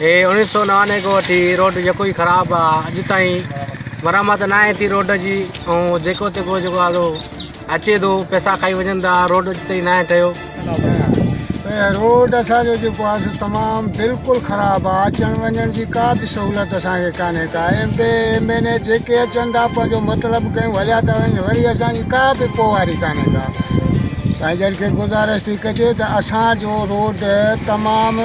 هي اڻيهه سؤ نوانوي کان وٺي روڊ جيڪو هي خراب آ اڄ تائين مرمت نه آهي ٿي روڊ جي ۽ جيڪو تيڪو جيڪو آ سو اچي ٿو پئسا کائي وڃن ٿا روڊ اڄ تائين نه آهي ٺهيو هي روڊ اسانجو جيڪو آ سو تمام بلڪل خراب آ اچڻ وڃڻ جي ڪا به سهولت اسانکي ڪانهي ڪا M P M N A جيڪي اچن ٿا پنهنجو مطلب ڪيون هليا ٿا وڃن وري اسانجي ڪا به پوئواري ڪانهي ڪا سائين جن کي گذارش ٿي ڪجي ته اسانجو روڊ تمام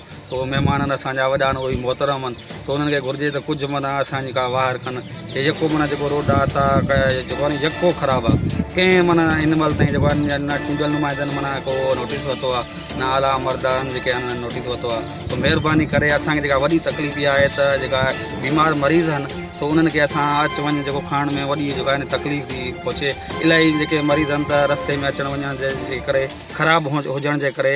سو مھمانن اسان جا وڏا نوھي محترم ھن سو انھن کي گھرجي ته ڪجھ معنيٰ اسان جي ڪا واھر ڪن ھي يڪو معنيٰ جيڪو روڊ آھي سا جيڪو آھي نھ يڪو خراب آھي ڪنھن معنيٰ ھن مھل تائين جيڪو آھي نھ چونڊيل نمائندن معنيٰ ڪو نوٽيس ورتو آھي نھ اعليٰ عمردارن جيڪي آھن انھن نوٽيس ورتو آھي سو مھرباني ڪري اسان کي جيڪا وڏي تڪليف اھا آھي ته جيڪا بيمار مريض ھن سو انھن کي اسان اچ وڃ جيڪو ڪرڻ ۾ وڏي جيڪا آھي نھ تڪليف ٿي پھچي الاھي جيڪي مريض ھن ته رستي ۾ اچڻ وڃڻ جي ڪري خراب ھجڻ جي ڪري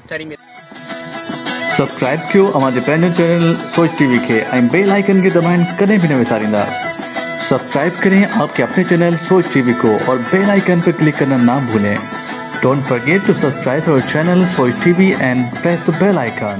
سبسڪرائب ڪيو اوهان جي پنهنجو چينل سوچ ٽي وي کي ۽ بيل آئيڪن کي دٻائڻ ڪڏهن به نه وساريندا سبسڪرائب ڪرين آپ ڪي اپني چينل سوچ ٽي وي ڪو اور بيل آئيڪن پي ڪلڪ ڪرنا نا ڀولين ڊونٽ فرگيٽ ٽو سبسڪرائب اور channel Soch T V and press the bell icon.